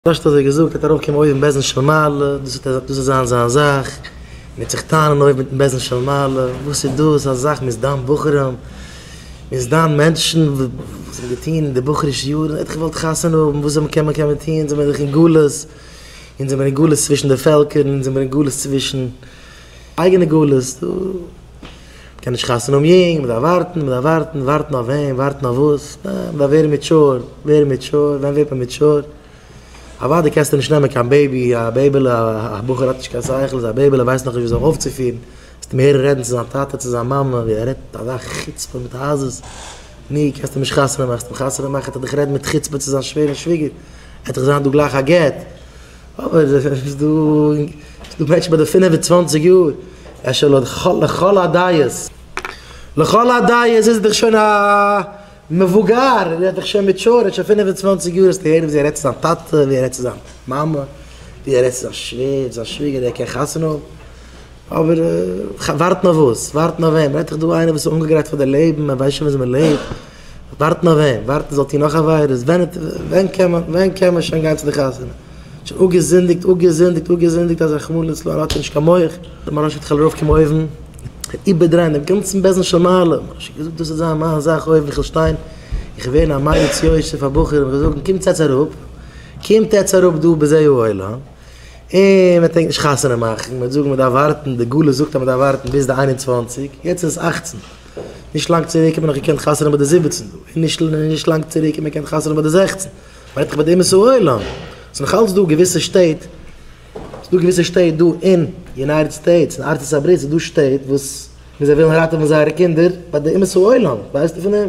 פשט אזוי געזאגט וועט ארויף קומען אויבן בעזן של מעלה, דאס וועט דאס וועט זיין זיין זאך, מען וועט זיך טענה'ן אויבן מיטן בעזן של מעלה, וואס איז דאס א זאך מ'איז דן בחורים, מ'איז דן מענטשן וואס האבן געטון אין די בחורישע יארן, ער האט געוואלט חתונה האבן, וואס זאל מען קען מען קען מען טון, אונז זעמיר דאך אין גלות, אונז זעמיר אין גלות צווישן די פעלקער, אונז זעמיר אין גלות צווישן. אייגענע גלות, דא מ'קען נישט חתונה האבן יונג, מ'דארף ווארטן, מ'דארף ווארטן, ווארטן אויף וועם, ווארטן אויף וואס, אה, מ'דארף ווערן מעטשור, ווערן מעטשור, ווען ווערט מען מעטשור? אוודאי קענסטו נישט נעמען קיין בעיבי, א בעיבעלע, א בחור האט נישט קיין שכל, איז א בעיבעלע, ווייסט נאך נישט ווי זיך אויפצופירן, וועסט אים הערן רעדן צו זיין טאטע, צו זיין מאמע, ווי ער רעדט אזא חוצפה מיט עזות, ני, קענסט אים נישט חתונה מאכן, וועסט אים חתונה מאכן, וועט ער דיך רעדן מיט חוצפה צו זיין שווער און שוויגער, עט דיך זיין דא גלייך א גט. אבער עס איז דא מענטשן ביי די פֿינף און צוואַנציק יאר, אפשר לכל הדעות, לכל הדעות איז ער דאך שוין א מבוגר, ער איז דאך שוין מעטשור, ער האט שוין פֿינף און צוואַנציק יאר, האסט געהערט ווי ער רעדט צו זיין טאטע, ווי ער רעדט צו זיין מאמע, ווי ער רעדט צו זיין שווער, זיין שוויגער, ער קען חתונה האבן, אבער ווארטן אויף וואס? ווארטן אויף וועם? רעדט דאך דא איינער וואס איז אנגעגרייט פאר די לעבן, ער ווייסט שוין ווי אזוי מען לעבט. ווארטן אויף וועם? ווארטן זאל טון נאך עבירות? ווען קען מען ווען קען מען שוין גיין צו די חתונה? שוין אפגעזינדיגט אפגעזינדיגט אפגעזינדיגט אז רחמנא ליצלן האט ער נישט קיין מח. דער מרן שליט א זאל ארויפקומען אויבן און איבערדרייען דעם גאנצן בעסן של מעלה, מרן שליט א האט געזאגט דאס איז זיין מיין זאך אויבן איך וועל שטיין, איך וועל ווערן א מעריץ יוסף פאר בחורים איך וועל זאגן קומטס עטס אראפ, קומט עטס אראפ דא בזה העולם, און מען טרינקט נישט חתונה מאכן, מען וועט זאגן מען דארף ווארטן, די גלות זאגט אז מען דארף ווארטן ביז די איין און צוואנציג, יעצט איז עס אַכצן. נישט לאנג צוריק האט מען נאך געקענט חתונה ביי די זיבעצן דא, און נישט לאנג צוריק האט מען געקענט חתונה ביי די זעכצן, מיינט דאך ביי די אומות העולם. ס'איז נאך אלץ דא געוויסע שטעט, ס'איז דא געוויסע שטעט דא אין יונייטעד סטעיטס, אין ארצות הברית איז דא שטעט וואס זיי ווילן ראטעווען זייערע קינדער ביי די אומות העולם, ווייסטו פון דעם?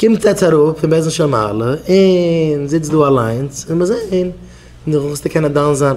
קומט עטץ אראפ פון בעסען של מעלה און זיצט דא אליינס און מיר זעהן נאך וואס טו קענען דן זיין